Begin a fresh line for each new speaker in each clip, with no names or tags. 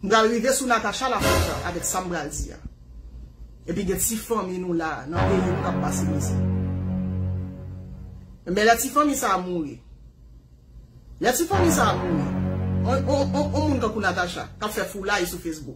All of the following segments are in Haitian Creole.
M pral rive sou Natacha la kontan avèk sa m pral di a. Epi gen ti fanmi nou la nan peyi nou k ap pase mize. Men lè ti fanmi sa a mouri. Lè ti fanmi sa a mouri, on moun tankou Natacha k ap fè foulay sou Facebook.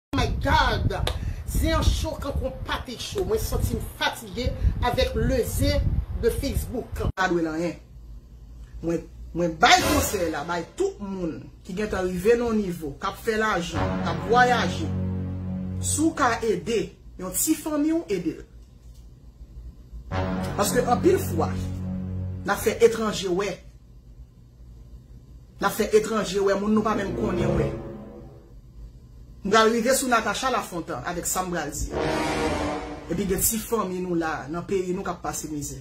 Oh my God zen an cho kankou pate cho mwen santim fatige avek le zen de Facebook. Pa dwe l anyen. Mwen Mwen bay konsèy la bay tout moun ki gentan rive nan yon nivo, k ap fè lajan, k ap vwayaje, si w ka ede yon ti fanmi w, ede l. Paske anpil fwa, n ap fè etranje wè. Nap fè etranje wè moun nou pa menm konnen wè. M pral rive sou Natacha Lafontan avèk sam pral di a. Epi gen ti fanmi nou la nan peyi nou kap pase mizè.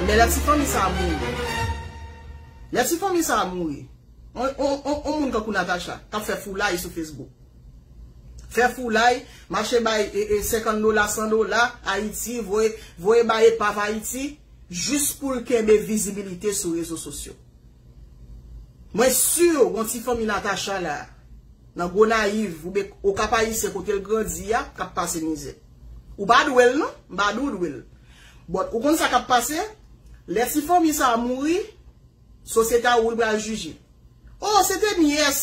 Lè la ti fanmi sa mouri. Lè ti fanmi sa mouri. On moun kankou Natacha kap fè foulay sou Facebook. Fè foulay, mache bay 50 dola, 100 dola, Ayiti, voye bay epav Ayiti, jis pou l kenbe vizibilite sou rezo sosyo. Mwen si gon ti fanmi Natacha la, nan Gonayiv, oubyen Okap-Ayisyen kote l grandi a, k ap pase mizè. Ou pa dwe l non, m pa di w dwe l. But ou konn sa k ap pase, lè ti fanmi sa a mouri, Sosyete a wi pral jije. Oh se te nyès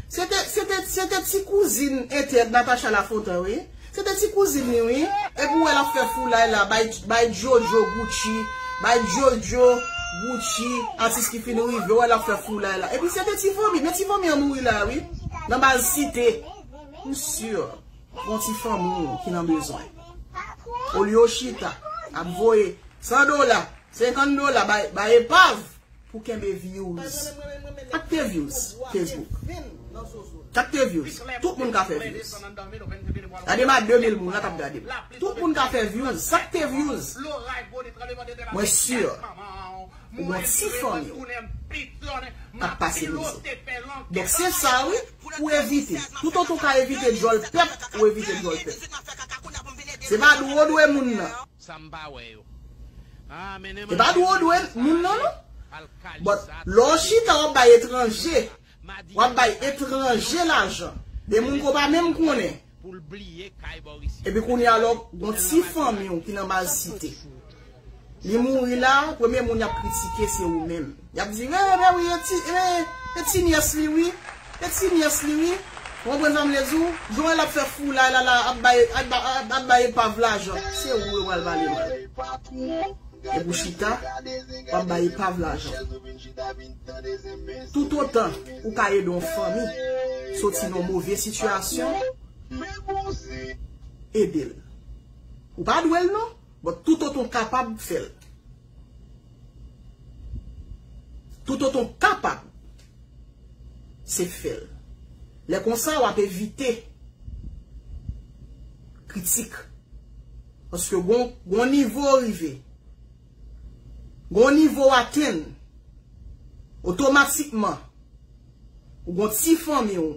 se te se te se te ti kouzin entèd Natacha Lafontan wi se te ti kouzin li wi epi ou wè lap fè foulay la bay bay JoJo Gucci bay JoJo Gucci atis ki fin rive ou wè lap fè foulay la epi se te ti fanmi men ti fanmi an mouri la wi nan baz site m sur gon ti fanmi ki nan bezwen olye ou chita ap voye 100 dola 50 dola bay epav pou kenbe views. Sak te views Facebook? Sak te views? Tout moun ka fè views. Gade ma 2000 moun la kap gade m. Tout moun ka fè views. Sak te views? Mwen sur ou gon ti fanmi w kap pase mizè. Donk se sa wi pou evite. Tout otan w ka evite djòl pèp ou evite djòl pèp. Se pa dwe w dwe moun nan. Sa m pa wè yo. Haa mennen m an Epa nou Jeremi dwe nan moun nan Saraje non. al But Calisa lè w tande chita w ap bay Jeremi nan etranje. Calisa. W ap Madivin bay sa yo se yon etranje pèp lajan. De moun ke w pa Jeremi menm antre konnen. pou l bliye kay Borisyo. Epi kounye a lè w gon Konnen l an ti fanmi Madivin. w ki nan baz Sa sòt site. sou ou tou. Li mouri la, premye moun y ap kritike se ou menm. Yap di re re wi e ti e e ti nyès li wi e ti nyès li wi ou konprann sa mvle di w jan w wè lap fè foulay la la ap bay ap bay epav lajan se ou yo pral pale mal epi w chita wap bay epav lajan tout otan ou ka ede yon fanmi soti nan move sitiyasyon ede l ou pa dwe l non but tout otan w kapab fè l. Toutotan w kapab, se fè l. Lè konsa, w ap evite kritik. Paske gon yon nivo w rive, gon yon nivo w atenn, otomatikman, ou gon ti fanmi w,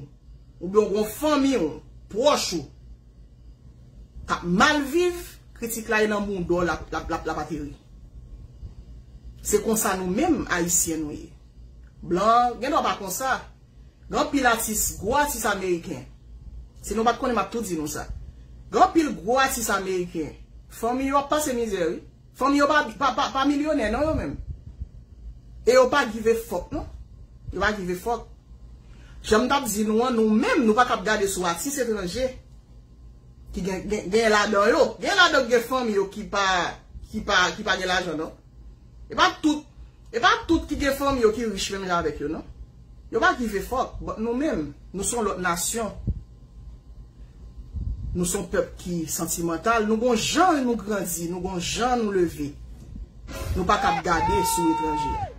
oubyen ou gon fanmi w, pwòch ou, Kap mal viv, kritik la e nan mondo lap ateri. Se konsa nou menm ayisyen nou ye. Blan gen dwa pa konsa. Gen anpil atis, gwo atis ameriken. Si nou pat konnen map tou di nou sa. Gen anpil gwo atis ameriken. Fanmi yo ap pase mizè wi. Fanm yo pa milyonè non yo menm. E yo pa give fuck non. Yo pa give fuck. Jan m tap di nou an nou menm nou pa tap gade sou atis etranje ki gen ladan yo. Gen ladan gen fanm yo ki pa gen lajan non. E pa tout E pa tout ki gen fanmi yo ki rich menm jan avèk yo non. Yo pa give fuck but nou menm nou son lòt nasyon. Nou son pèp ki santimantal, nou gon jan nou grandi, nou gon jan nou leve. Nou pa kab gade sou etranje.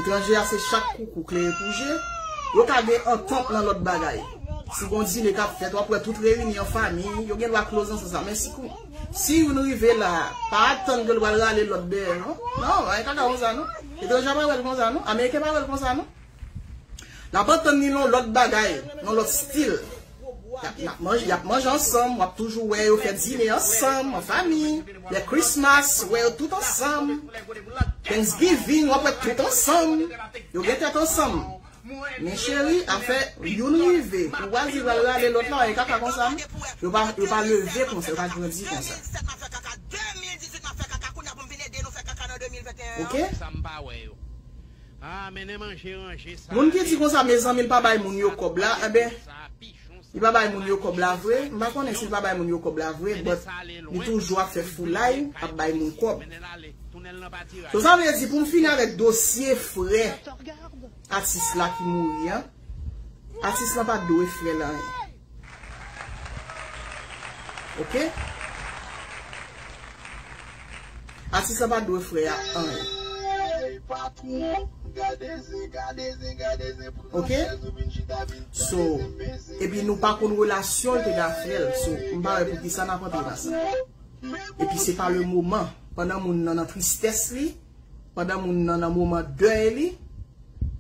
Etranje a se chak koukou klere pou je, yo ka gen antant nan lòt bagay. Si gon dine kap fèt wap wè tout reyini an fami, yo gen dwa close nan sans la men si kou. Si youn rive la, pa atann ke l pral rale lòt dèyè non. Non, bagay kaka konsa non. Etranje a pa wè l konsa non. Ameriken pa wè l konsa non. L ap antann li lon lòt bagay, lon lòt stil. Y ap manje ansanm, w ap toujou wè yo fè dine ansanm, an fami. Lè Christmas, ou wè yo tout ansanm. Thanksgiving, w ap wè tout ansanm. Yo gen tèt ansanm. Men cheri afè youn rive ou pa di lal rale lot la e kaka konsa non yo pa leve konsa yo pa grandi konsa ok. Moun ki di konsa mezanmi l pa bay moun yo kob la enben. Li pa bay moun yo kòb la vre, m pa konnen si l pa bay moun yo kòb la vre but li toujou ap fè foulay ap bay moun kòb. So sa vle di pou m fini avèk dosye frè atis la ki mouri an, atis lan pa dwe frè l anyen. Ok. Atis la pa dwe fre a anyen. Ok So epi nou pa konn relasyon l te gen ak frè l so m pa wè poukisa nap antre nan sa. Epi se pa le moman pandan moun nan nan tristès li pandan moun nan nan moman dèy li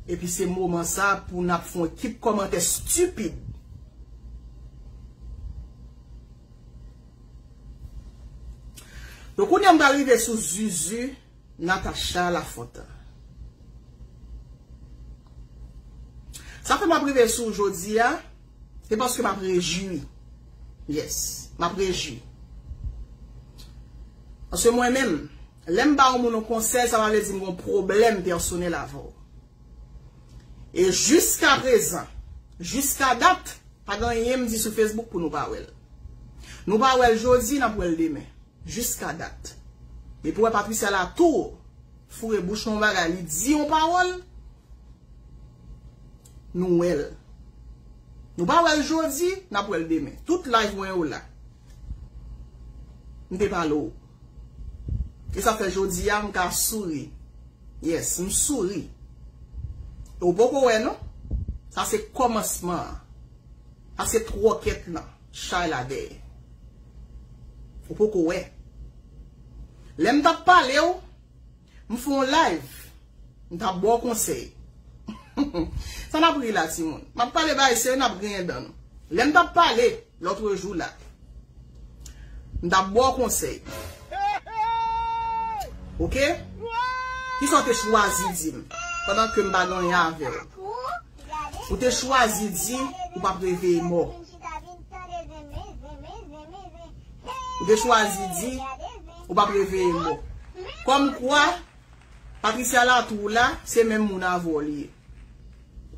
epi se moman sa pou nap fon ekip kòmantè stupid. Donk kounye a m pral rive sou zuzu Natacha Lafontan. Sa fè m ap rive sou jodi a, se paske m ap rejwi. Yes, m ap rejwi. Paske mwen menm, lè m ba yon moun yon konsèy, sa pa vle di m gen yon pwoblèm pèsonèl avè w. E jiska prezan, jiska dat, pa gen anyen m di sou Facebook pou nou pa wè l. Nou pa wè l jodi, n ap wè l demen. Jiska dat. Depi w wè Patricia Latour foure bouch nan yon bagay, li di yon pawòl, nou wè l. Nou pa wè l jodi, n ap wè l demen. Tout live mwen yo la. M te pale w. E sa fè jodi a m ka souri. Yes, m souri. E w poko wè non. Sa se kòmansman an. Sa se twòkèt lan. Chay la dèyè. Ou poko wè. Lè m t ap pale w, m fè yon live. M t ap ba w konsèy. Sa n ap ri la timoun? M ap pale bagay serye n ap griyen dan nou. Lè m t ap pale. Lotre jou la. M tap baw konsey. Ok. Kisa w te chwazi di m. Pandan ke m pa gen anyen ave w. Ou te chwazi di ou pap reveye mò. Ou te chwazi di ou pap reveye mò. Kom kwa Patricia la tou la se menm moun avw li ye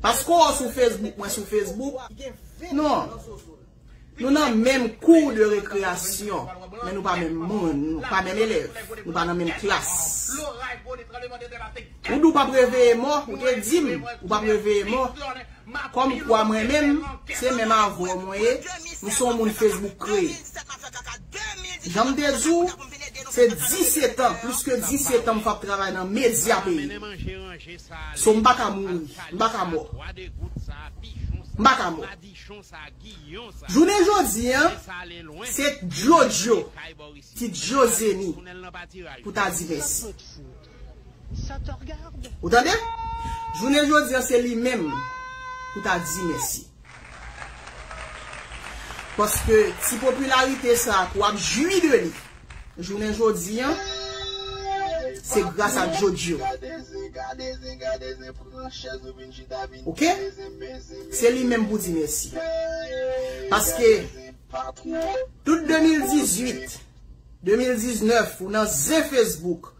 paske w sou Facebook mwen sou Facebook non nou nan menm kou de rekreyasyon men nou pa menm moun nou pa menm elèv nou pa nan menm klas ou di w pap reveye mò ou te dim ou pap reveye mò Kòm kwa mwen menm, se menm avè w mwen ye, m se yon moun Facebook kreye. Jan m te di w, se disetan, plis ke disetan m fap travay nan medya peyi m. So m pa ka mouri, m pa ka mò. M pa ka mò. Jounen jodi an, se Djodjo ki Djozeni pou ta di mèsi. Ou tande? Jounen jodi an se li menm pou ta di mèsi. Paske ti popilarite sa ke w ap jwi de li jounen jodi an, se gras a Jojo. Ok? Se li menm pou di mèsi. Paske tout 2018. 2019 ou nan zen Facebook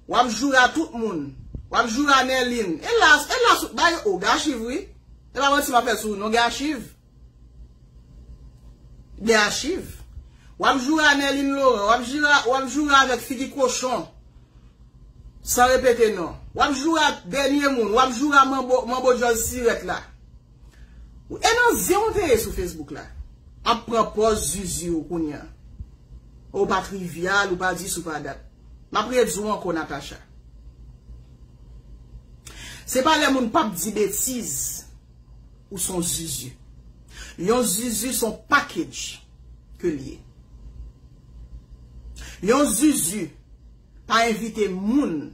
wap joure a tout moun wap joure a Nerline elas elas ou bay ou gen achiv wi e pa manti map fè sou ou non gen achiv gen achiv wap joure a Nerline Laurent wap jire a wap joure a avèk figi kochon san repete non wap joure a dènye moun wap joure a manbo manbo djòl sirèt la. E nan zen ou te ye sou Facebook la? Ap pran pòz zuzu ou kounya. Ou pa trivial, ou pa dis, ou pa dat. Map redi ou ankò Natacha. Se pa lè moun pap di betiz ou son zuzu. Yon zuzu son package ke li ye. Yon zuzu pa envite moun.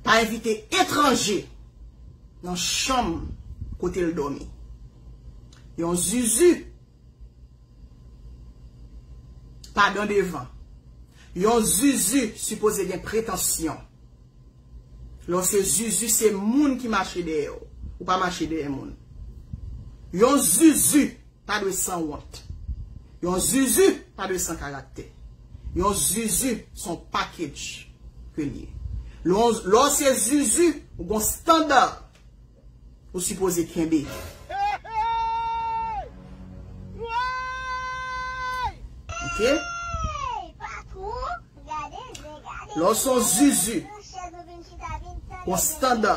Pa envite etranje nan chanm kote l dòmi. Yon zuzu pa dan devan. Yon zuzu sipoze gen pretansyon. Lè w se zuzu se moun ki mache dèyè w. Ou pa mache dèyè moun. Yon zuzu. pa dwe san wont. Yon zuzu pa dwe san karaktè. Yon zuzu se yon package ke li ye. Lè w se zuzu, ou gen yon standard ou sipoze kenbe. Lè w son zuzu gon standa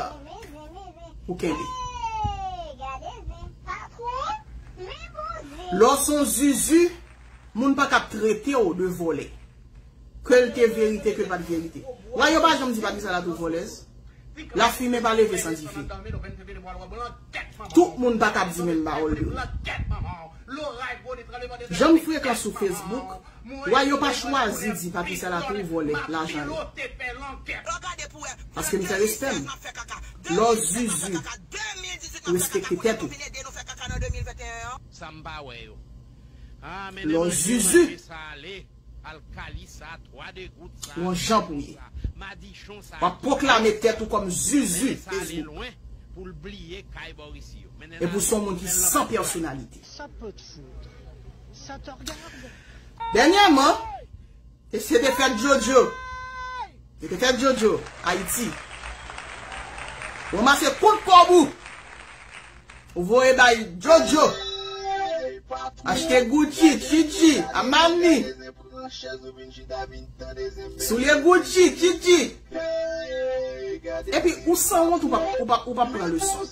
pou kenbe. Lè w son zuzu moun pa kap trete w de vole. Ke l te verite ke l pat verite. Wè yo pa janm di Vanessa la twop volez. La fimen pa leve san dife. Tout moun pa kap di menm pawol de w. Janm frekan sou Facebook. Wai yo pa chwazi di papi salatou vòlè lajan yo paske li fè respè m lò zuzu respekte tèt ou. Sa m pa wè yo. Haa mennen manje manje sa ale alkali sa twa de gout sa madichon sa madichon sa ki pa wè sa mennen sa ale lwen pou l bliye kay bòrisi yo mennen l ale pou l fè l nan lakay. Sa pot foudre. Dènyèman, e se te fèt JoJo. Se te fèt JoJo, Ayiti. Ranmase kout kòb ou. Ou voye bay JoJo. Achte Gucci, Chichi, Amani. Soulye Gucci, Chichi. Epi ou sanwont ou pa pran leson.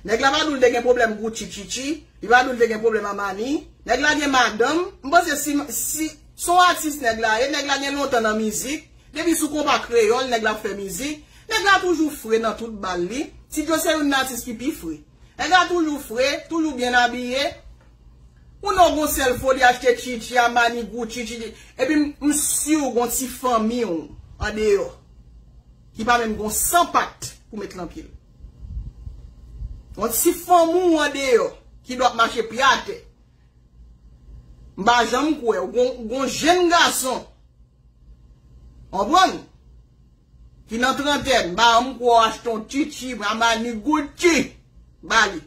Nèg la pa dou l te gen pwoblèm Gucci Chichi, li pa dou l te gen pwoblèm Armani. Nèg la gen madanm, m panse si, si, se yon atis nèg la ye, nèg la gen lontan nan mizik, depi sou konpa kreyòl nèg la ap fè mizik, nèg la toujou fre nan tout bal li, T-Jo se youn nan atis ki pi fre. Nèg la toujou fre, toujou byen abiye, ou non gon sèl fo li achte Chichi, Armani, Gucci, Chichi, epi m si w gon ti fanmi w andeyò ki pa menm gon 100 pat pou met lan pye l. Bon si fanm ou an deyò ki do ap mache pye atè m pa janm kwè ou gon jenn gason konprann ki nan trantèn m pa janm kwè w achte yon tutu Armani Gucci ba li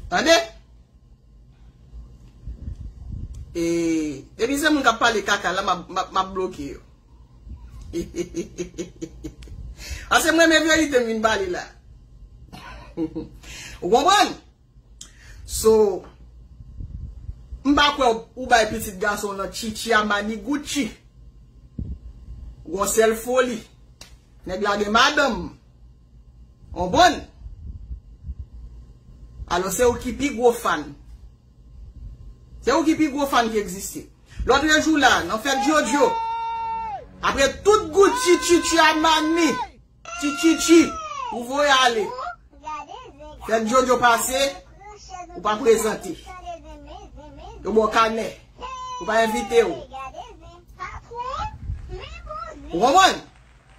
tande e depi se moun k ap pale kaka la m ap bloke yo. Ase m renmen verite m vin pale la. Ou konprann? So, m pa kwè ou bay pitit gason nan chichi a maniguchi. Ou gon sèl foli. Nèg la gen madanm. Konprann? Alò se ou ki pi gwo fan. Se ou ki pi gwo fan ki egziste. Lotre jou la, nan fèt JoJo, apre tout gout chi chi chi a manmi, chi chi chi, ou voye ale. Fèt JoJo pase, ou pa prezante. Yo ba w kanè. Yo pa envite w. Ou konprann?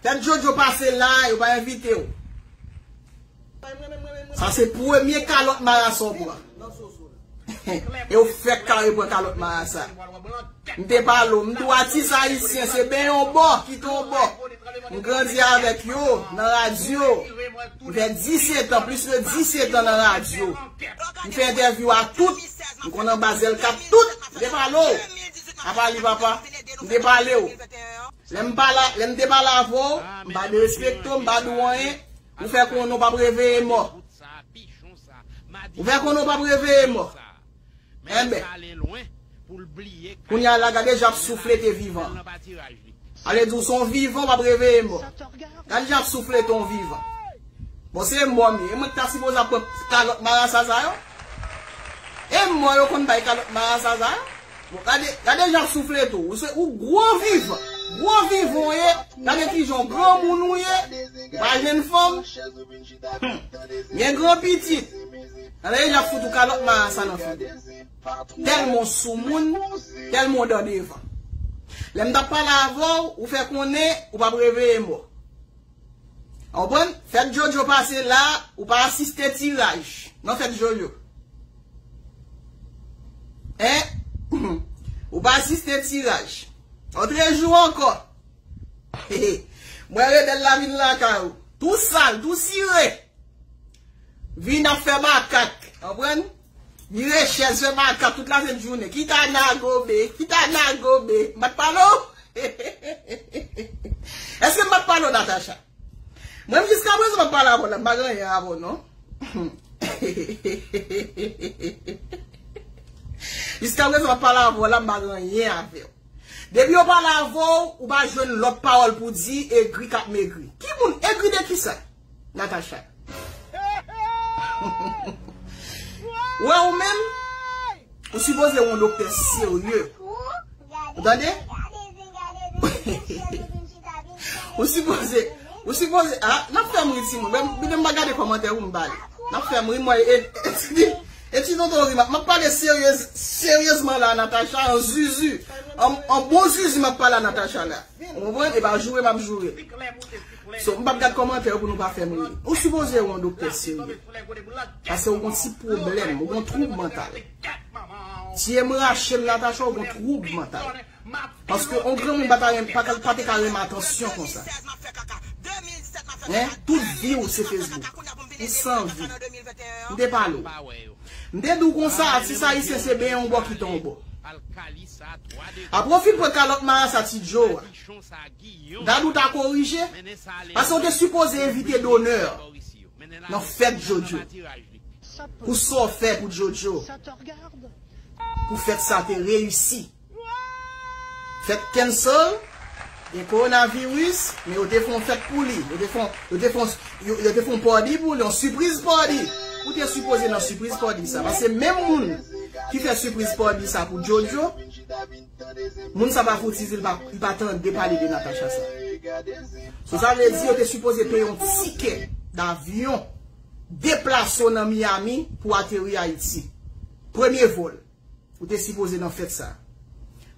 Dat jojo pase la yo pa envitew. Sa se premye kalòt marasa w pran. E w fèk kare pran kalòt marasa. M te pale w, m di w atis ayisyen se ben yon bò, kite yon bò. M grandi avèk yo nan radyo. M fè 17 an, plis ke 17 an nan radyo. M fè entèvyou a tout. M konn anba zèl kat tout. M te pale w. Apa li papa? M te pale w. Lè m pa la, lè m te pa la avè w, m pa derespekte w, m pa di w anyen, ou fè konnen w p ap reveye mò. Ou fè konnen w p ap reveye mò. Enben, kounye a la gade jan ap souflete vivan an. Ale di w se yon vivan w ap reveye mò. Gade jan ap souflete yon vivan. Bon se mò m ye, e mwen ki ta sipoze ap bwè kalòt marasa sa yo? E mò yo konn bay kalòt marasa sa yo? Bon gade, gade jan w soufle tou, ou se, ou gwo vivan, gwo vivan w ye, gade ki jan w granmoun ou ye, ou pa jwenn fanm, humm, gen gran pitit, gade jan y ap fout ou kalòt marasa nan figo, tèlman w soumoun, tèlman w dan devan. Lè m t ap pale avè w, ou fè konnen, ou p ap reveye mò. Ou konprann? Fèt Jojo pase la, ou pa asiste tiraj nan fèt Jojo. Hein? Ou pa asiste tiraj. Otre jou ankò, hehe, m wè rebèl la vin lakay ou, tou sal, tou sire, vin ap fè makak, ou konprann? Li rechèz fè baka tout la sent jounen. Ki ta na gobe? Ki ta na gobe? M pa t pale w? Eske m pa t pale w Natacha? Mwen m jiska prezan m ap pale avè w la, m pa gen anyen avè w non. Jiska prezan m ap pale avè w la, m pa gen anyen avè w. Depi yo pale avè w, ou pa jwenn lòt pawòl pou di egri k ap megri. Ki moun? Egri de kisa? Natacha. Ou wè ou menm, ou sipoze yon doktè serye. Ou tande? Ou sipoze, ou sipoze, a, nan fèm ri ti moun, mwen mwen mwen gade komantè ou mwen bale. Nan fèm ri mwen, e, e ti di, e ti tonton ri, mwen pale seryez, seryezman la Natacha, an zuzu, an bon zuzu mwen pale Natacha la. Ou mwen, e pa joure mwen joure. So m pap gad kòmantè yo pou nou pa fè m ri. Ou sipoze yon doktè serye. Pase ou gon ti pwoblèm, ou gon twoub mantal. Tiye m rache m Natacha ou gon twoub mantal. Paske yon granmoun pa ta renm, pa ka, pa te ka renmen atansyon konsa. Hein, tout vi w se Facebook. Ou san vi. M te pale w. M te di w konsa atis ayisyen se benyen yon bò kite yon bò. Apre w fin pran kalòt marasa ti Joe a. Dadou ta korije, paske ou te sipoze envite Donner nan fèt Jojo, pou sa w fè pou Jojo pou fèt sa te reyisi. Fèt cancel, gen coronavirus, men yo te fè yon fèt pou li, yo te fè yon te fè yon party pou li, yon sipriz party. Ou te sipoze nan sipriz party sa, paske menm moun ki fè sipriz party sa pou Jojo. Moun sa pa fouti di li pa tande pale de Natacha sa. So sa vle di yo te sipoze peye yon tikè davyon deplase w nan Miami pou ateri Ayiti. Premye vol. Ou te sipoze nan fèt sa.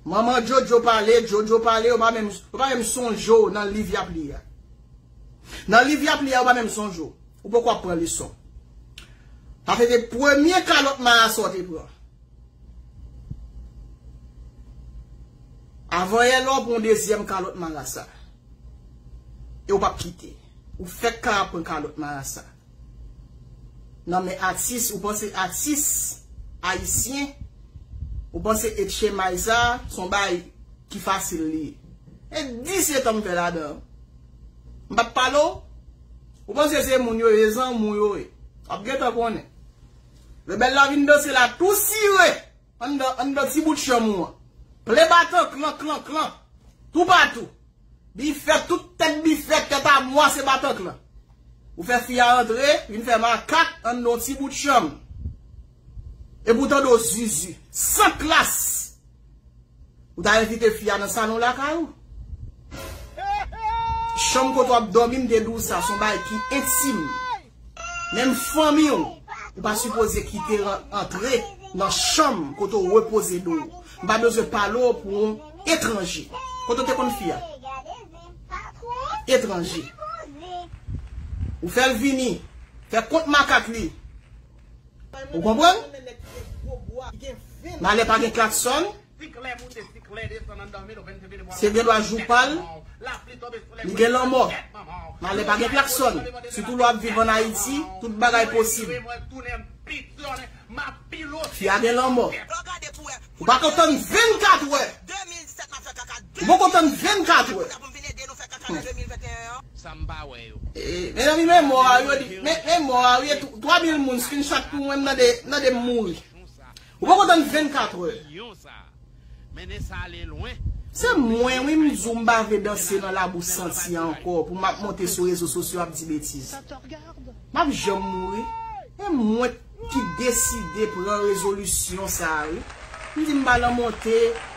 Manman Jojo pale, Jojo pale, yo pa menm yo pa menm sonje w nan liv y ap li a. Nan liv y ap li a yo pa menm sonje w. Ou poko ap pran leson. Sa se te premye kalòt marasa w te pran. A voye lè w pran yon dezyèm kalòt marasa. E w pap kite. Ou fèk ka ap pran kalòt marasa. Nan men atis, ou panse atis ayisyen, ou panse et chemay sa, son bay ki fasil li ye. E 17 an m fè ladan. M pap pale w. Ou panse se moun yo ye zanmi w yo ye. Wap gentan konnen. Rebèl la vin danse la tou sire anndan ti bout chanm ou an. Ple batan klan klan klan toupatou. Bifèt tout tèt bifèt tèt amwa se batan klan. Ou fè fi a antre vin fè makak anndan yon ti bout chanm. Epi ou tande w zuzu. San klas! Ou ta envite fi a nan salon lakay ou. Chanm kote wap domi m te di w sa son bagay ki entim. Menm fanmi w, ou pa sipoze kite antre nan chanm kote w repoze do w. M pa bezwen pale w pou yon etranje. Kote w te konn fi a? Etranje. Ou fè l vini, fè kont makak li. Ou konprann? Malè pa gen klaksòn. Se gen lwa jou pa l. Li gen lanmò. Malè pa gen klaksòn. Sitou lwa ap viv an Ayiti, tout bagay posib. Fi a gen lanmò. Ou pa ko tann 24 wè. Ou poko tann 24 wè. Mezanmi men mò a wi men mò a wi 3000 moun screenshot pou mwen mnade m mouri. Ou poko tann 24 wè. Se mwen wi m di w m pa vle danse nan labou santi a ankò pou map monte sou rezo sosyo ap di betiz. Map janm mouri. ki deside pran rezolisyon sa wi m di m pa nan monte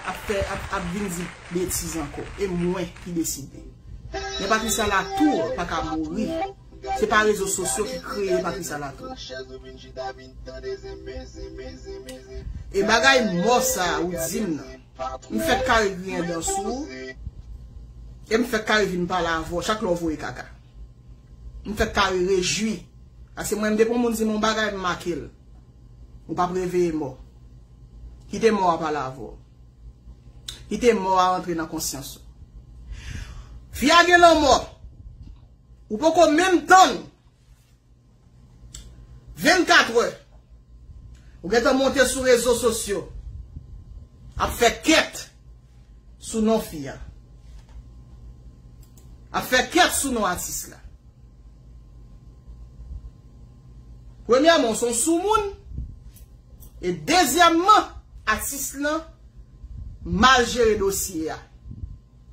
ap fè ap vin di betiz ankò e mwen ki deside men patricia latour paka mouri se pa rezo sosyo ki kreye patricia latour e bagay mò sa ou di m nan m fèk kare griyen dan sou ou e m fèk kare vin pale avè w chak lè w voye kaka. M fèk kare rejwi. Paske mwen menm depi yon moun di m yon bagay m make l. Ou pap reveye mò. Kite mò a pale avè w. Kite mò a antre nan konsyans ou. Fi a gen lanmò. Ou poko menm tann. 24 heures ou gentan monte sou rezo sosyo ap fè kèt sou non fi a. Ap fè kèt sou non atis la. Premyèman ou son soumoun e dezyèman atis lan mal jere dosye a.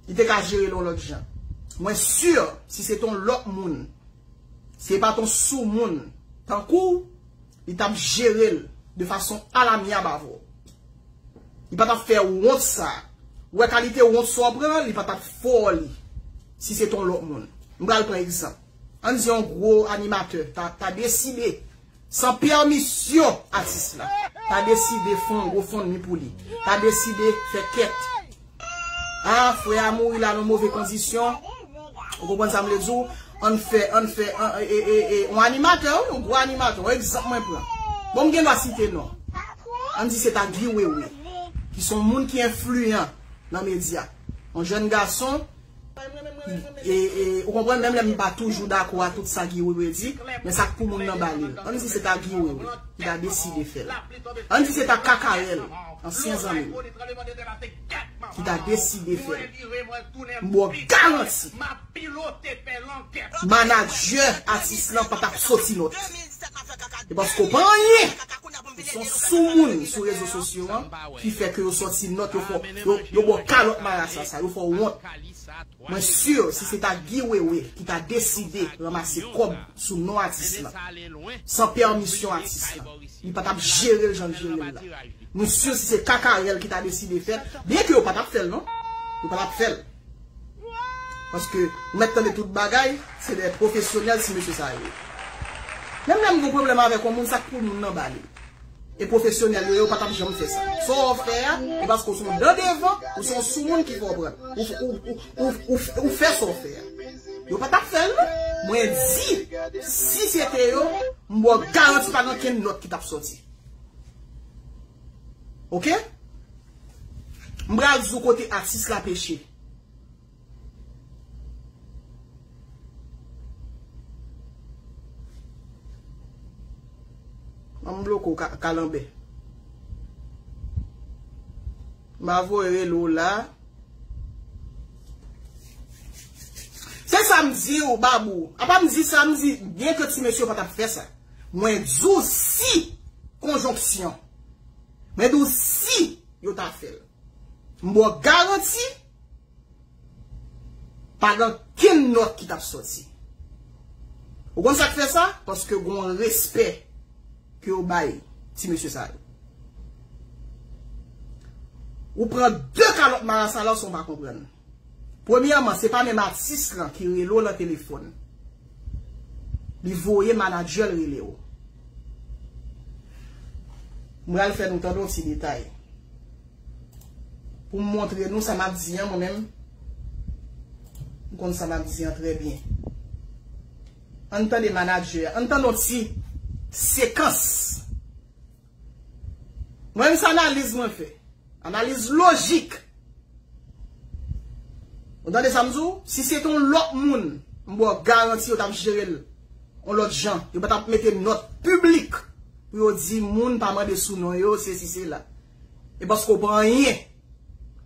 Li te ka jere l yon lòt jan. Mwen sur si se te yon lòt moun Si e pat on soumoun tankou w, li tap jere l de fason alamyab avè w. Li pa tap fè wont sa. Ou wè kalite wont sa w pran an, li pa tap fè w li si se te on lòt moun. M pral pran egzanp. Ann di on gwo animatè ta deside San pèmisyon atis la. Ta deside fon yon gofondmi pou li. Ta deside fè kèt. A, frè a mouri la nan move kondisyon. Ou konprann sa m vle di w? Ann fè, ann fè, an e e e. Yon animatè wi, yon gwo animatè. Yon egzanp mwen pran. Bon m gen dwa site non. Ann di se ta Guy Wewe. Ki s on moun ki enfliyan nan medya. Yon jèn gason. Ou konprann menm lè m pa toujou dakò a tout sa Guy Wewe di, men sa k pou moun nan ba li l. Ann di se ta Guy Wewe ki ta deside fè l. Ann di se ta Kakarèl, ansyen zanmi m, ki ta deside fè l. M ba w garanti, manadjè atis lan pa t ap soti lòt. E paske w pa anyen! Ou son soumoun sou rezo sosyo an ki fè ke yo sòti nòt yo fè w, yo ba w kalòt marasa sa, yo fè w wont. Mwen sur si se ta Guy Wewe ki ta deside ranmase kòb sou non atis lan, san pèmisyon atis lan, li pa tap jere l jan l jere l la. Mwen sur si se Kakarel ki ta deside fè l, byen ke yo pa tap fè l non, yo pa tap fè l. Paske ou mèt tande tout bagay, se de pwofesyonèl ti mesye sa yo ye. Menm lè m gon pwoblèm avèk on moun, sa k pou moun nan ba li. E pwofesyonèl yo ye, ou pa t ap janm fè sa. Sa w fè a, e paske ou se yon dan devan, ou se yon soumoun ki fè w pran. Ou fè sa w fè a. Yo pa t ap fè l non. Mwen di, si se te yo, m ba w garanti pa gen okenn lòt ki t ap soti. Ok? M pral di w kote atis la peche. An m bloke w kalanbè. M a voye rele w la. Se sa m di w babou. A pa m di sa m di byen ke ti mesye pa ta fè sa. Mwen di w si konjonksyon. Mwen di w si yo ta fè l. M ba w garanti pa gen ankenn nòt ki t ap soti. Ou konn sa k fè sa? Paske gen yon respè ke yo bay ti mesye sa yo. Ou pran de kalòt marasa la w san w pa konprann. Premyèman se pa menm atis lan ki rele w lan telefòn. Li voye manadjè l rele w. M pral fè nou tande yon ti detay. Pou m montre nou sa m ap di an mwen menm. M konn sa m ap di an trè byen. Ann tande manadjè an. Ann tande yon ti sekans Mwen menm se analiz mwen fè. Analiz lojik. Ou tande sa m di w? Si se te yon lòt moun, m ba w garanti yo t ap jere l yon lòt jan. Yo pa t ap mete nòt piblik pou yo di moun pa mande sou non yo, se si se la. E paske ou pa anyen,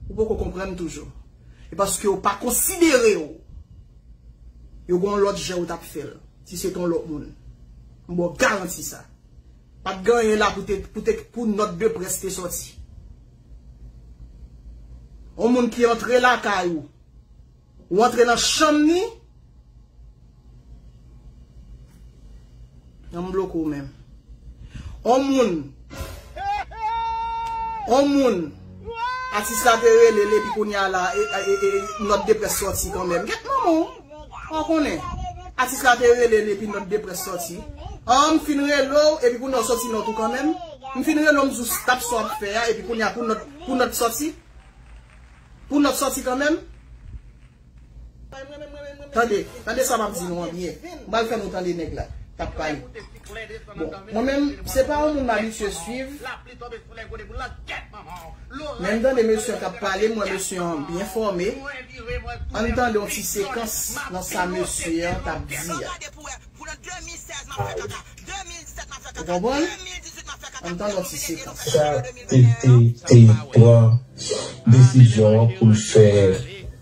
ou poko konprann toujou. E paske yo pa konsidere w, yo gen yon lòt jan yo t ap fè l. Si se te yon lòt moun. M ba w garanti sa. Pat gen anyen la pou nòt de près te sòti. On moun ki antre lakay ou, ou antre nan chanm ni, nan m bloke ou menm. On moun, on moun, atis la te rele l epi kounye a la, nòt de près sòti kanmenm. Gèt manman w! Ou konnen, atis la te rele l epi nòt de près sòti. An, m fin rele w epi kounye a w sòti nòt ou kanmenm? M fin rele w m di w stap sa w ap fè a epi kounye a pou nòt, pou nòt sòti? Pou nòt sòti kanmenm? Tande, tande sa m ap di nou an byen. M pral fè nou tande nèg la k ap pale. Bon, mwen menm, se pa yon moun m abitye suiv. Lè m tande mesye an k ap pale, m wè mesye an byen fòme. An n tande yon ti sekans nan sa mesye an t ap di a. Ou konprann? An n tande yon ti sekans. Chat
te pran desizyon an pou l fè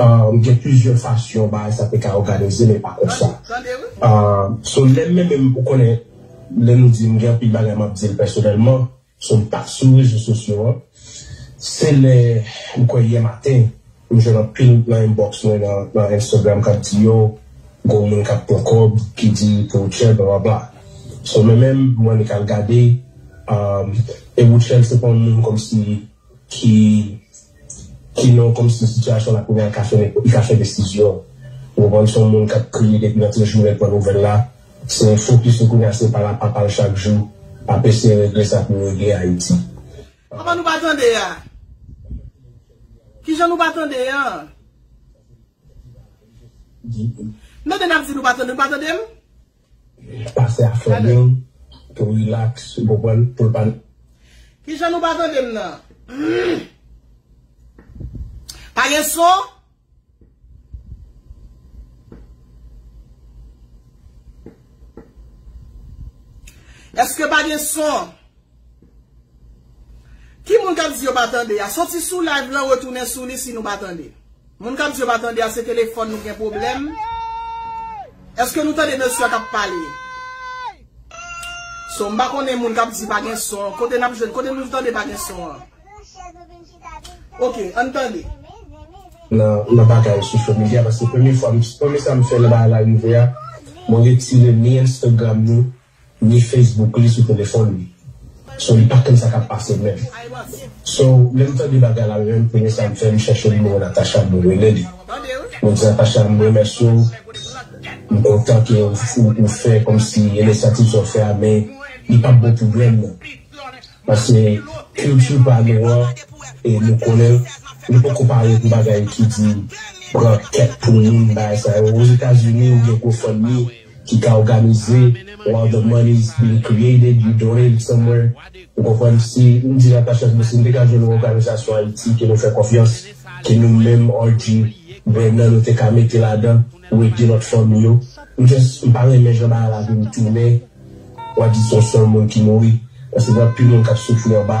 Ahh gen plizyè
fasyon bagay sa te ka òganize men pa konsa. Ahh so lè men menm ou konnen lè nou di m gen anpil bagay m ap di l pèsonèlman so m pa sou rezo sosyo an se lè m kwè yè maten m jwenn anpil nan inbox mwen nan Instagram k ap di yo gon moun k ap pran kòb ki di pou Rutshelle blablabla so men menm m annik al gade ahh e Rutshelle se pa yon moun kòmsi ki ki non kòm si sitiyasyon la kounya ka fè li ka fè desizyon ou konprann son moun kap kriye depi nan ti jou lèl pran nouvèl la se fokis li kounya se pa la papal chak jou ap eseye regle sa poul regle ayiti. Kòman nou pa
tande a? Kijan nou pa tande an? Mete nap di nou pa tande nou pa tandem?
Pase a feeling pou relax ou konprann poul pa. Kijan nou
pa tande m nan? Pa gen son? Eske pa gen son? Ki moun kap di yo pa tande a soti sou live lan retounen sou li si nou pa tande moun kap di yo pa tande a se telefòn nou gen pwoblèm eske nou tande mesye a kap pale so m pa konnen moun kap di pa gen son kote nap jwenn kote nou tande pa gen son an ok ann tande.
nan bagay social media paske premye fwa premye sa m fè nan bagay la rive a mwen retire ni Instagram ni. ni Facebook li sou telefòn li so li pa konn sa kap pase menm so lèm tande bagay la menm premye sam fè m chèche nimewo Natacha mwen rele li mwen di Natacha m remèsye w m kontan ke ou fè kòmsi inisyativ sa w fè a men li pap bon pou grenn nan paske kilti pa nou an e nou konnen l nou poko pare pou bagay ki di pran kèk pou moun bagay sa yo ozetazini ou gen gofundme. ki ka òganize while the money is being created you donate it somewhere ou konprann si m di la pachans bon si m te ka jwenn yon òganizasyon ayiti ke nou fè konfyans ke nou menm RG Brenan nou te ka mete ladan pou ede lòt fanmi yo m just m pa renmen jan bagay la vin tounen wap di son sèl moun ki mouri paske gen anpil moun kap soufri anba.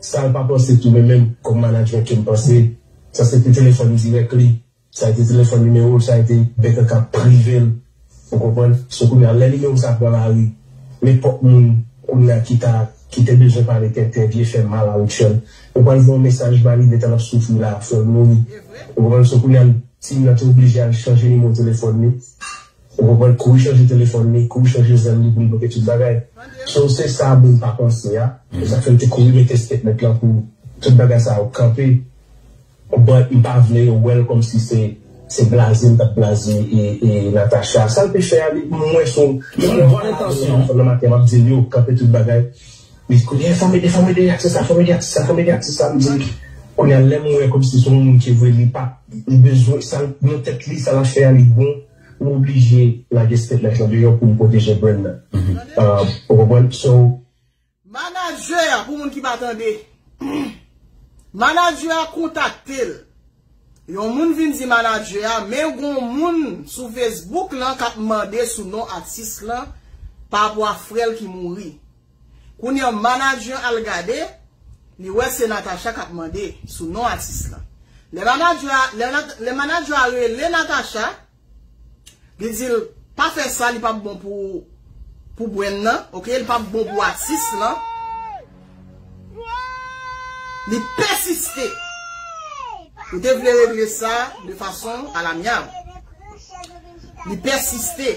Sal pa panse tou men menm kòm management kem panse sa se te telefòn dirèk li sa te telefòn nimewol sa te bèk an kap privel ou konprann so kounya lè nimewo sa pran lari nenpòt moun kounya ki ta ki te bezwen pale tenten vye fè mal a Rutshelle ou pral voye yon mesaj ba li detan lap soufri la fèl mouri ou konprann so kounya l ti moun nan te oblije al chanje nimewo telefòn li. Ou konprann kouri chanje telefòn li, kouri chanje zèl li pou li bloke tout bagay. So se sa moun pa panse a, se sak fè m te kouri mete statement lan pou tout bagay sa yo kanpe but m pa vle yo wèl kòmsi se se blaze m tap blaze Natacha. Sal te fè a li mwen sou m gen bon entansyon m fè nan maten map di l yo kanpe tout bagay Wi kounye fòm ede fòm ede atis la fòm ede atis la fòm ede atis la m di m kounye a lèm wè kòmsi son moun ki vwe li pa li bezwen sa l nan tèt li sa lap fè a li bon m oblije lage stepmèt lan deyò pou m pwoteje brand nan ou konprann so.
Manadjè a pou moun ki pa tande manadjè a kontakte l yon moun vin di manadjè a men gon moun sou fesbouk lan kap mande sou non atis lan pa rapò a frè l ki mouri. Kounya manager al gade li wè se Natacha kap mande sou non atis lan. Lè manager a lè manager a rele Natacha li dil pa fè sa li pap bon pou pou brand nan ok li pap bon pou atis lan li pèsiste li te vle regle sa de fason al amyab li pèsiste.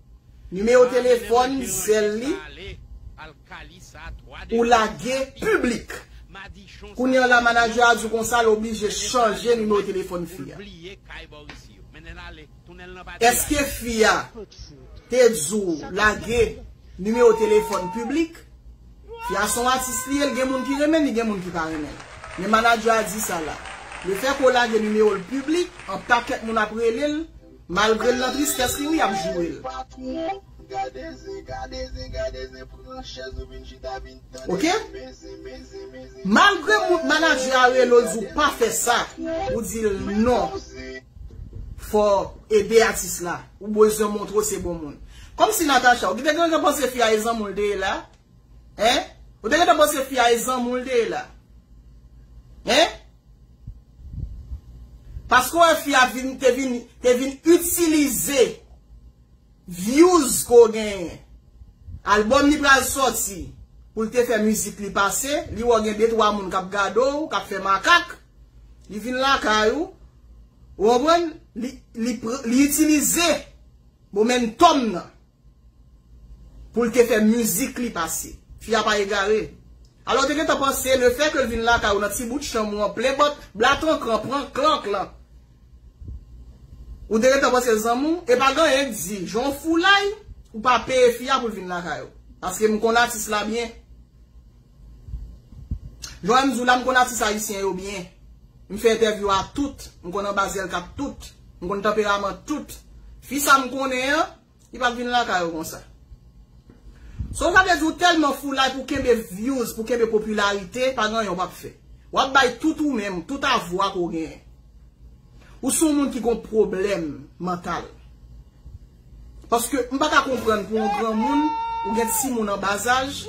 Numéro téléphone zèl li ou lage public. Kounya la manager a di w konsa l oblije chanje numéro téléphone fi a. Eske fi a te di w lage numéro téléphone public? Fi a son atis li ye l gen moun ki renmen li gen moun ki pa renmen l. Men manager a di sa la. Le fait ke w lage numéro l public, an pakèt moun ap rele l. Malgre l nan tristès li wi yap joure l. Ok malgre moun manager a rele w di w pa fè sa ou di l non fòw ede atis la ou bezwen montre w se bon moun kòmsi Natacha ou te gentan panse fi a e zanmi w l te ye la Hein Ou te gentan panse fi a e zanmi w li te ye la Hein Paske w wè fi a vin te vin te vin itilize views ke w genyen Album li pral sòti pou l te fè mizik li pase li wè w gen de twa moun k ap gade w k ap fè makak li vin lakay ou Ou konprann Li itilize momentum nan. Pou l te fè mizik li pase. Fi a pa egare. Alò ou te gentan panse le fè ke l vin lakay ou nan ti bout chanm ou an plen bòt blatrankran pran klank lan. Ou te gentan panse zanmi w e pa gen anyen k di jan w foulay ou pa peye fi a pou l vin lakay ou. Paske m konn atis la byen. Joe M. Zoula M konn atis ayisyen yo byen. M fè entèvyou a tout. M konn anba zyel kat tout. M konn tanperaman tout. Fi sa m konnen an, li pa t vin lakay ou konsa. So sa vle di ou tèlman foulay pou kenbe vyouz, pou kenbe popilarite, pa gen anyen ou pa p fè. W ap bay tout ou menm, tout avwa ke w genyen. Ou se yon moun ki gen yon pwoblèm mantal. Paske m pa ka konprann pou yon granmoun, ou gen timoun anbazaj,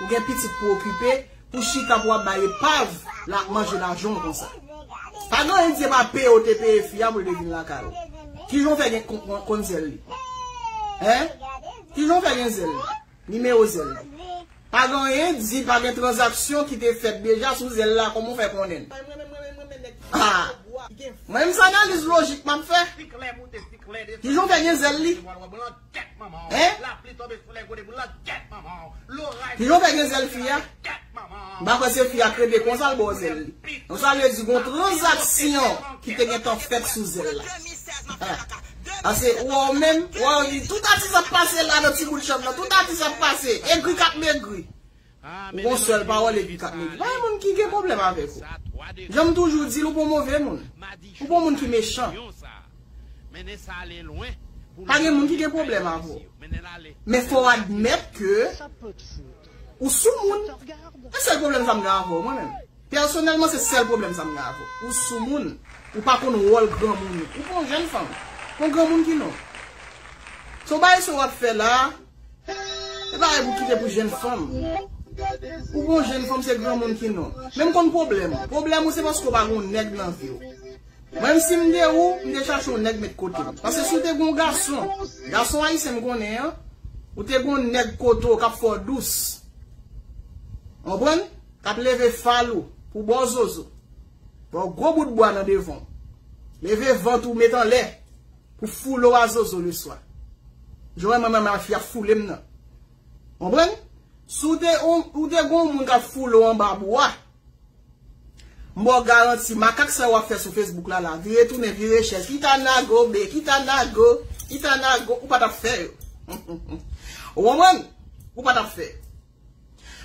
ou gen pitit pou okipe, pou chita pou w ap bay epav la ap manje lajan w konsa. Pa gen anyen Dye pa peye w te peye fi a pou l te vin lakay ou. Kijan w fè gen konn zèl li? Hein? Kijan w fè gen zèl li? Nimewo zèl la. Pa gen anyen di pa gen tranzaksyon ki te fèt deja sou zèl la kòman w fè konnen l? Haa! Mwen menm se analiz lojik m ap fè. Ki jan w fè gen zèl li? Hein? Ki jan w fè gen zèl fi a? M pa kwè se fi a k rete konsa l bò zèl li. Donk sa vle di gon tranzaksyon ki te gentan fèt sou zèl la. Ase wè w menm, wè yo di tout atis ap pase la nan ti bout chanm nan, tout atis ap pase, egri k ap megri. Ou gon sèl pawòl egri k ap megri. Pa gen moun ki gen pwoblèm avèk ou. Jan m toujou di l ou pa w move moun. Ou pa w moun ki mechan. Pa gen moun ki gen pwoblèm avè w. Men fò w admèt ke Ou sou moun. E sèl pwoblèm sa m gen avè w mwen menm. Pèsonèlman se sèl pwoblèm sa m gen avè w. Ou sou moun. Ou pa konn wòl granmoun ou. Ou pa yon jèn fanm. Kon granmoun ki non. Son bagay sa w ap fè la a. Se bagay pou kite pou jèn fanm. Ou pa yon jèn fanm se granmoun ki non. Men m konn pwoblèm ou. Pwoblèm ou se paske w pa gen yon nèg nan vi w. Menm si m te ou, m te chache yon nèg met kote m. Pase si w te gen yon gason, gason ayisyen m konnen an, ou te gen yon nèg kote w k ap fè w dous. Ou konprann? K ap leve fal ou pou ba w zozo. Ba w gwo bout bwa nan devan w. Leve vant ou met anlè pou foule w a zozo leswa. Jan w wè mwen menm la fi ap foule m nan. Ou konprann? Si w te gen yon moun k ap foule w anba bwa, M baw garanti, makak sa yo wap fè sou Facebook la la, vire tounen, vire chèz, kita nago be, kita nago, kita nago, ou pa tap fè yo. Ou konprann? Ou pa tap fè.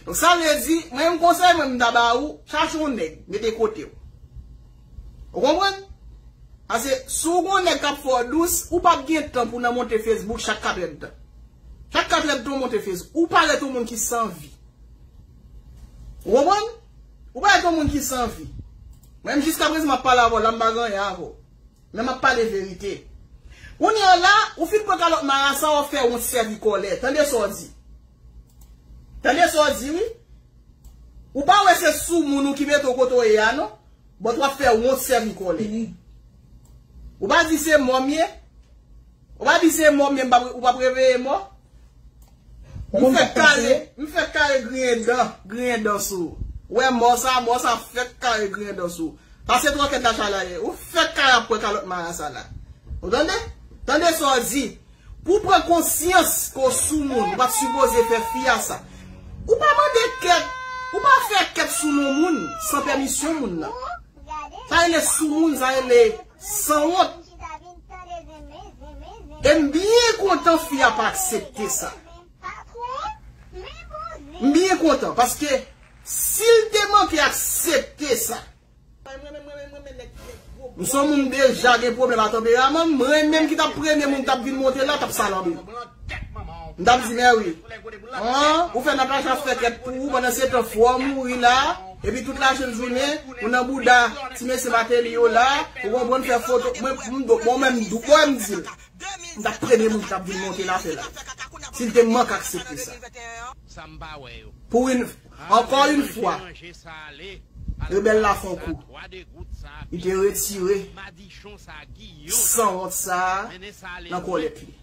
Donk sa vle di, mwen yon konsèy mwen m ta ba ou, chache yon nèg, mete kote ou. Ou konprann? Pase, si w gon nèg kap fè w dous, ou pap gen tan pou nan monte Facebook chak katrèdtan. Chak katrèdtan w monte Facebook. Ou parèt yon moun ki san vi. Ou konprann? Ou parèt yon moun ki san vi. Mwen menm jiska prezan map pale avèw la m pa gen anyen avèw. Men map pale verite. Kounye an la, ou fin pran kalòt marasa wap fè wont sèvi kòlè. Tande sa w di. Tande sa w di wi. Ou pa wè se soumoun ou ki mete w kote w ye a non. But wap fè wont sèvi kòlè. Ou pa di se mò m ye. Ou pa di se mò men ou pap reveye mò. M fèk kare, m fèk kare griyen dan, griyen dan sou ou. Wè mò sa, mò sa fèk kare griyen dan sou ou. Pase twòkèt la chalaye, ou fèk kare ap pran kalòt marasa la. Ou tande? Tande sa w di. Pou w pran konsyans ke w sou moun, ou pat sipoze fè fi a sa. Ou pa mande kèt, ou pa fè kèt sou non moun san pèmisyon moun nan. Sa rele sou moun, sa rele. Sanwont. Em byen kontan fi a pa aksepte sa. M byen kontan paske sil te manke aksepte sa. M son moun deja gen pwoblem a tanperaman m mwen menm ki tap premye moun tap vin monte la tap salanbe m. M tap di mèwi. An ou fè Natacha fè kèt pou ou pandan se tan fwa mouri la. Epi tout la jèn jounen ou nan bouda ti mesye Mateli yo la ou konprann fè foto mwen bon men m dou wè m di l m tap premye moun ki tap vin monte l a fè live si l te mank aksepte sa pou yn ankò yn fwa rebèl la fon kou li te retire sanwont sa nan kòlèt li.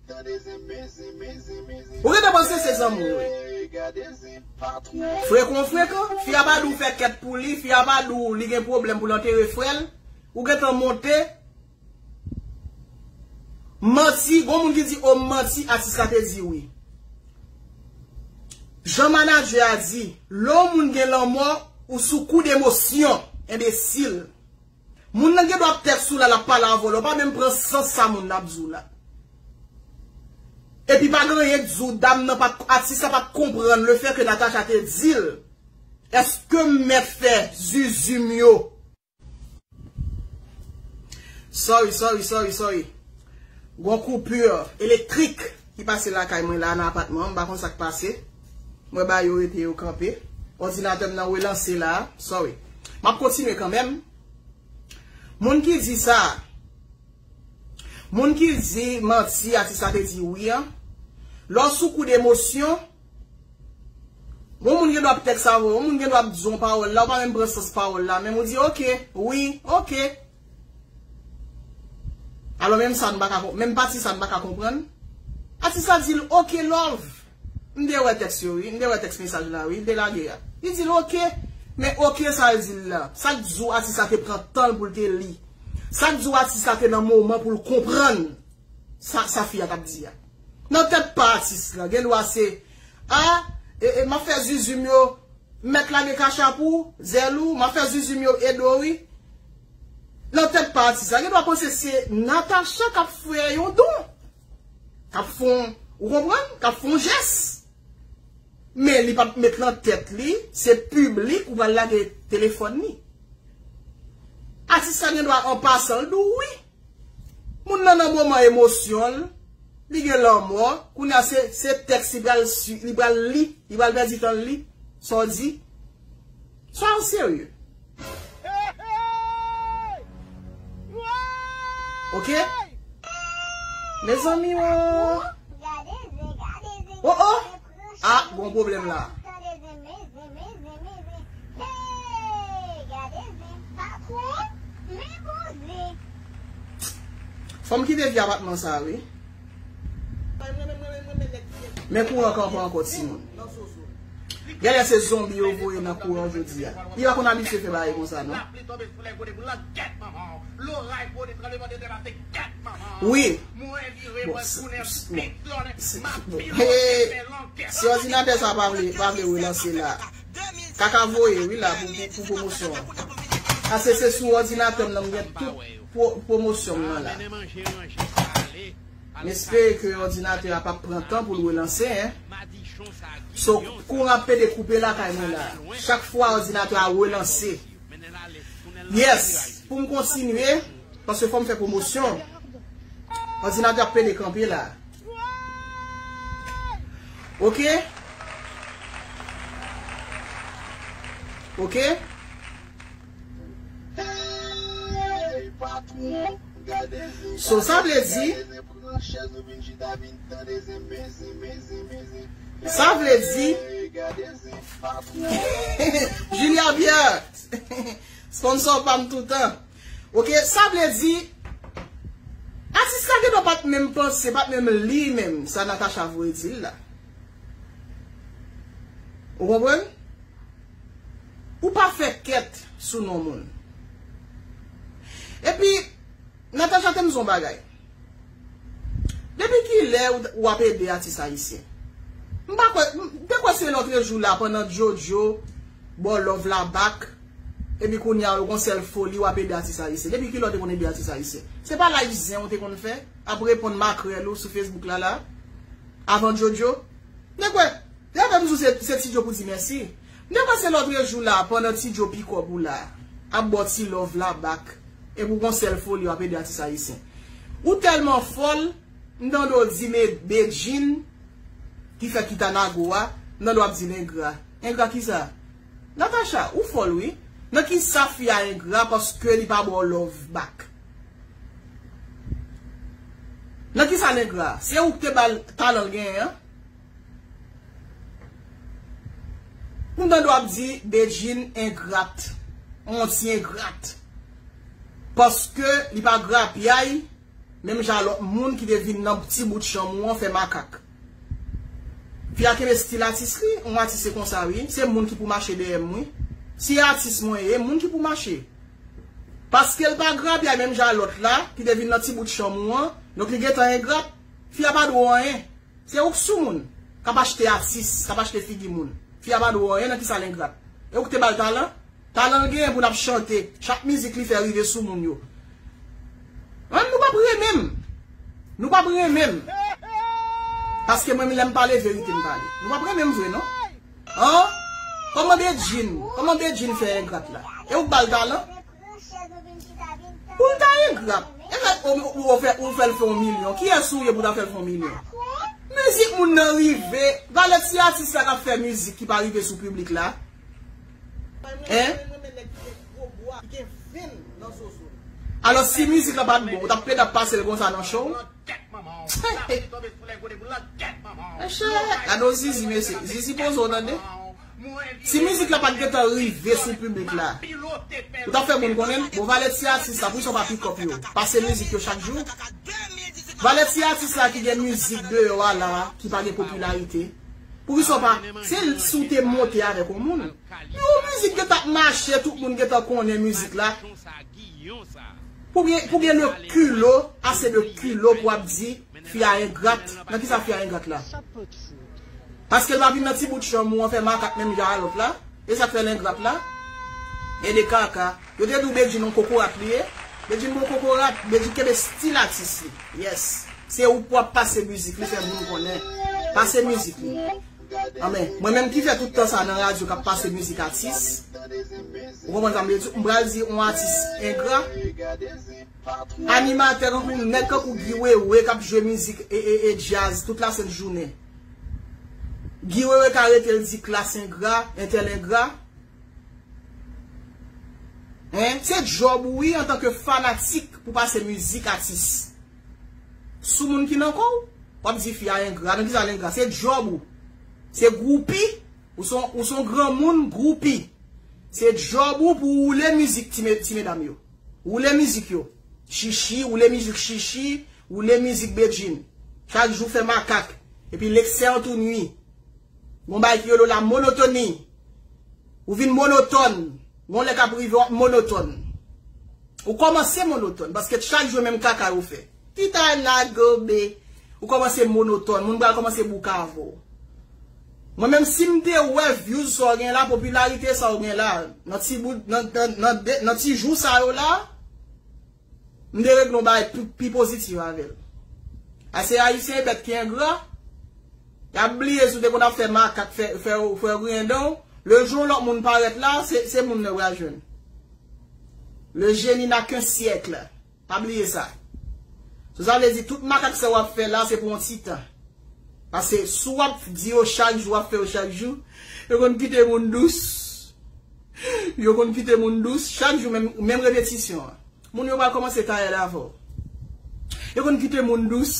Ou rete panse se zanmi w ye. Frekan frekan, fi a pa di w fè kèt pou li, fi a pa di w li gen pwoblèm pou l antere frè l, ou gentan monte Manti, gon moun ki di o m manti atis la te di wi Jan manadjè a di, lè yon moun gen lanmò, ou sou koud emosyon, enbesil. Moun nan gen dwa ap tèt sou la lap pale avèw la ou pa menm pran sans sa moun nan ap di w la epi pa gen anyen k di w dam nan pat atis la pat konprann le fè ke Natacha te di l eske m mèt fè zuzu m yo sorry sorry sorry sorry gon coupure elektrik ki pase lakay mwen la nan apatman an m pa konn sak pase. Mwen ba yo rete yo kanpe. Òdinatè m nan relanse la. Sorry. M ap kontinye kanmenm. Moun ki di sa a. Moun ki di manti atis la te di wi an. Lè w sou kou de emosyon. Yon moun gen dwa ap tèks avè w. Yon moun gen dwa ap di w yon pawòl la. Ou pa menm pran sans pawòl la. Menm ou di ok. Wi. Ok. Alò menm sa n pa ka konprann. Menm pati sa n pa ka konprann. Atis la di l ok love. M te wè tèks yo wi, m te wè tèks mesaj la wi, li te lage a. Li di l ok, men ok sa l di l la, sa k di w atis la te pran tan l pou l te li? Sa k di w atis la te nan moman pou l konprann sa fi a t ap di a? Nan tèt pa atis la, gendwa se, a, m ap fè zuzu m yo, m mèt lage kachap ou, zèl ou, m ap fè zuzu m yo ede w wi. Nan tèt pa atis la, gendwa panse se Natacha k ap fè yon don. K ap fon, ou konprann, k ap fon jès. Men li pa p met lan tèt li, se piblik ou pral lage telefòn li. Atis la gen dwa an pasan l di w wi. Moun nan nan moman emosyon l, li gen lanmò, kounye a se tèks li pral li pral li, li pral pèdi tan l li, sa w di. Sa yo serye. Ok. Mezanmi o. O o. A bon problem la. Fom kite vye apatman sa wi. Men kouran kan pa ankò ti moun. Gen lè se zonbi yo voye nan kouran jodi a. Li pa konn abitye fè bagay konsa non. Wi. Si òdinatè sa pa vle pa vle relanse la. Kaka voye wi la pou pwomosyon. Ase se sou òdinatè m nan m gen tout. pwomosyon m nan la. M espere ke òdinatè a pap pran tan pou l relanse. So, kouran ap pede koupe lakay mwen la. Chak fwa òdinatè a relanse. Yes, pou m kontinye, paske fò m fè pwomosyon, òdinatè ap pede kanpe la. Ok? Ok? So sa vle di? Sa vle di? Julia Biert! Sponsor pa m toutan. Ok, sa vle di? Atis la gen do pa t menm panse, pa t menm li menm sa Natacha voye di l la. Ou konprann? Ou pa fè kèt sou non moun. Epi, Natacha te m di w yon bagay. Depi ki lè ou ap ede atis ayisyen? M pa kwè, m te kwè se lòtre jou la pandan JoJo ba w love la back, epi kounye a ou gon sèl foli w ap ede atis ayisyen. Depi ki lè ou te konn ede atis ayisyen? Se pa live zen ou te konn fè, ap reponn makrèl ou sou Facebook la la, avan JoJo? M te kwè. Lè fè m sou se se Tidjo pou di mèsi. M te panse lotre jou la pandan Tidjo pi kòb ou la ap baw ti love la back epi ou gon sèl foli wap ede atis ayisyen. Ou tèlman fòl m tande w di me Bedjine ki fè kita nago a m tande wap di l engra. Engra kisa? Natacha ou fòl wi. Nan kisa fi a engra paske li pa baw love back? Nan kisa l engra? Se ou ki te bal talan l genyen an? Ou tande wap di Bedjine engrat, on ti engrat. Paske li pa grapyay menm jan a lòt moun ki te vin nan ti bout chanm ou an fè makak. Fi a kenbe stil atis li, on atis se konsa wi, se moun ki pou mache dèyè m wi. Si e atis mwen ye, moun ki pou mache. Paske l pa grapyay menm jan a lòt la ki te vin nan ti bout chanm ou an, donk li gentan engrat. Fi a pa dwe w anyen. Se ou k soumoun, k ap achte atis, k ap achte figi moun. Fi a pa dwe w anyen nan kisa l engrat. E ou k te ba l talan? Talan l genyen pou l ap chante chak mizik li fè rive sou moun yo. An nou p ap renmen m. Nou p ap renmen m. Paske mwen menm lè m pale verite m pale. Nou p ap renmen m vre non. An! Kòman Bedjine, kòman Bedjine fè engrat la? E ou k ba l talan? Pou l ta engra. E met o ou ou fè ou fèl fè yon milyon. Kiyès ou ye pou ta fèl fè yon milyon. Mizik moun nan rive. Valè ti atis la kap fè mizik ki pa rive sou piblik la. Hein. Alò si mizik la pat bon ou tap peda pasel konsa nan show. Gèt manman w. Sa vle di tonbe sou lè gode boul la gèt manman w. Gade yon zizi mesye. Zizi poze w tande. Si mizik la pat gentan rive sou piblik la. Ou tap fè moun konnen l. Bon valè ti atis la poukisa w pa pick up yo. Pase mizik yo chak jou. Valè ti atis la ki gen mizik deyò a la ki pa gen popilarite. Poukisa w pa. Se si w te monte avèk yon moun. Yon mizik gen tap mache tout moun gen tan konnen mizik la pou gen le kulo ase de kulo pou ap di fi a engrat nan kisa fi a engrat la paskel pa vin nan ti bout chanm ou an fè makak menm jan a lot la esak fèl engrat la e de kaka yo te di w bedjine yon kokorat li ye bedjine bon kokorat bedjine kenbe stil atis li yes se ou pou ap pase mizik li fè moun konnen pase mizik li. An men, mwen menm ki fè tout tan sa nan radyo kap pase mizik atis, ou konprann sa m vle di, m pral di on atis engra, animatè kankou nèg kankou Guy Wewe kap jwe mizik e djaz tout la sent jounen. Guy Wewe ka rete l di klass engra, entèl engra. Hein, se djòb ou wi antanke fanatik pou pase mizik atis. Sou moun ki nan kow wap di fi a engra nan kisa l engra se djòb ou se gwoupi ou son ou son granmoun gwoupi se djòb ou pou woule mizik ti me ti medam yo woule mizik yo shishi woule mizik shishi woule mizik bedjine chak jou fè makak epi leksè an tou nwi gon bagay ki rele w la monotonie ou vin monotòn. Gon lè kap rive wap monotòn. Ou kòmanse monotòn paske chak jou menm kaka yo fè. Ti tay la gobe. Ou kòmanse monotòn. Moun pral kòmanse bouka avè w. Mwen menm sim te wè vyouz sa w gen la, popilarite sa w gen la, nan ti jou sa yo la. M te regle yon bagay pi pozitif avè l. Ase Ayisyen e bèt ki engra, y ap bliye si w te konn ap fè makak fè yo griyen dan w, le jou yon lòt moun parèt la, se moun nan yo pral jwenn. Le génie n'a qu'un siècle, pa bliye sa. Sou sa vle di tout makak sa w ap fè la se pou yon ti tan. Pase si w ap di yo chak jou w ap fè yo chak jou yo konn kite moun dous yo konn kite moun dous chak jou menm repetisyon an moun yo pral kòmanse tayèle avè w yo konn kite moun dous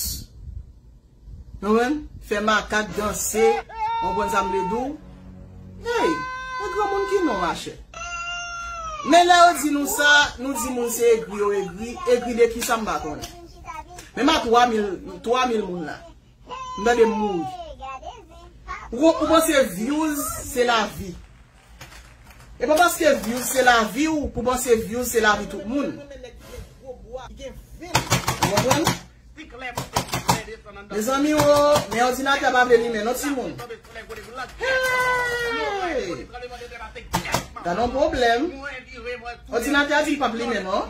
konprann fè makak danse ou konprann sa m vle di w hey e granmoun ki non machè men lè yo di nou sa nou di moun se egri yo egri egri de kisa m pa konnen. Menm a 3 mil, 3 mil moun la. M tande m mouri. Ou panse vyouz se la vi. E pa paske vyouz se la vi ou pou panse vyouz se la vi tout moun. Ou konprann? Me zanmi o, men ordinatè pa vle limen non ti moun. Hey! Gadon problem. Ordinatè a di l pap limen non.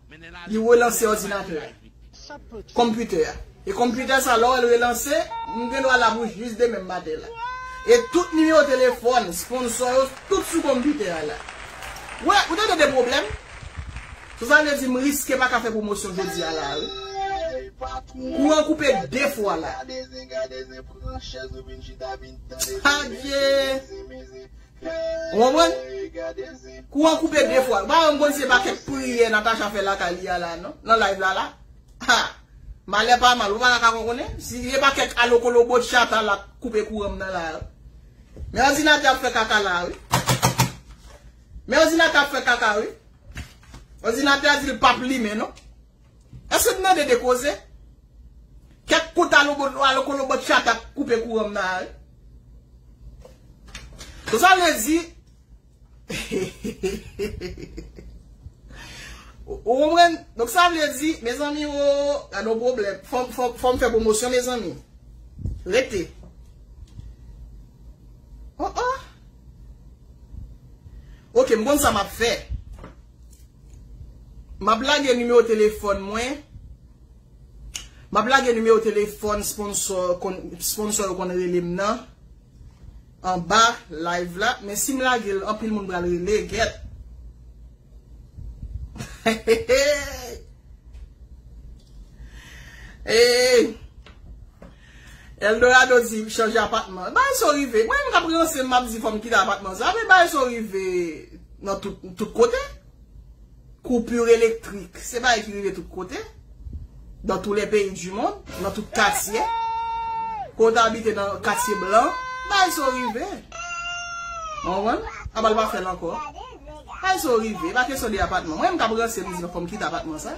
Li relanse òdinatè a. Konpitè a. E konpitè sa lò wè l relanse, m gen dwa la pou jis demen maten la. E tout nimewo telefòn sponsò yo tout sou konpitè a la. Wè, ou tande de pwoblèm? So sa vle di m riske pa ka fè pwomosyon jodi a la a wi. Kouran koupe de fwa la. Adye! Ou konprann? Kou an koupe de fwa. Ou pa janm konn se pa kèk priyè Natacha fè lakay li a la non. Nan live la la. Haa. Malè pa mal. Ou pa ta ka kon konnen. Si se pa kèk alokolobo tchata la k koupe kouran m nan la a. Men òdinatè ap fè kaka la a wi. Men òdinatè ap fè kaka wi. Òdinatè a di l pap limen non. Èske n mande de koze? Kèk kout alokolobò tchata k koupe kouran m nan a wi. Sou sa vle di, ou konprann? Donk sa vle di, mezanmi o, gad yon pwoblèm. Fò m fè pwomosyon mezanmi. Rete. O o. Ok, m konn sa m ap fè. Map lage nimewo telefòn mwen. Map lage nimewo telefòn sponsò yo konn rele m nan anba live la. Men si m lage l anpil moun pral rele gèt. Hehehe. Eeey. Eldorado di chanje apatman. Bagay sa yo rive. Mwen menm kap ranse map di fòm kite apatman sa. Men bagay sa yo rive nan tout kote. Koupur elektrik se bagay ki rive tout kote. Dan tou le peyi di mond. Nan tout katye. Kon ta abite nan katye blan. Bagay sa yo rive. Mwen mwen. Aba l pa fèl ankò. Bagay sa yo rive. E pa kesyon de apatman. Mwen menm kap ranse mwen di fòm kite apatman sa.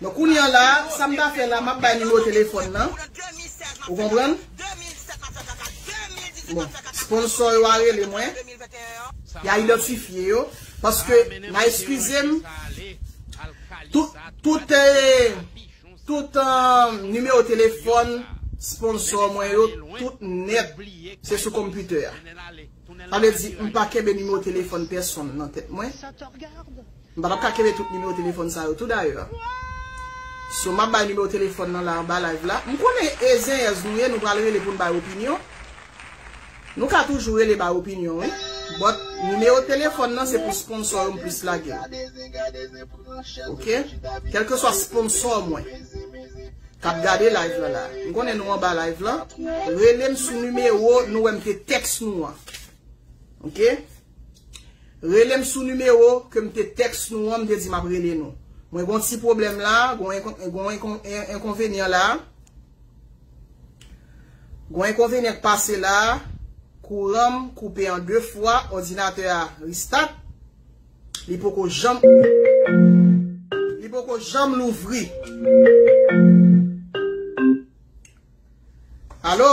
Bon kounye an la, sa m ta fè la, m ap bay nimewo telefòn nan. Ou konprann? Bon, sponsò yo a rele mwen. Y a idantifye yo. Paske, n a eskize m, tout, tout e, tout e nimewo telefòn sponsò mwen yo, tout nèt, se sou konpitè a. Sa vle di, m pa kenbe nimewo telefòn pèsonn nan tèt mwen. M pa tap ka kenbe tout nimewo telefòn sa yo tou dayè. So map bay nimewo telefòn nan la anba live la. M konnen e zenyèz nou ye nou pral rele poun bay opinyon. Nou ka toujou rele bay opinyon wi. But nimewo telefòn nan se pou sponsò yo m plis lagel. Ok. Kelkeswa sponsò mwen. Kap gade live la la. M konnen nou anba live la. Relem sou nimewo nou wèm te teks nou an. Ok. Rele m sou nimewo ke m te tèks nou an, m te di m ap rele nou. Mwen gen yon ti pwoblèm la, gen yon enkonvenyan la. Gen yon enkonvenyan k pase la, kouran m koupe an 2 fwa, òdinatè a restart, li poko janm, li poko janm louvri. Alo?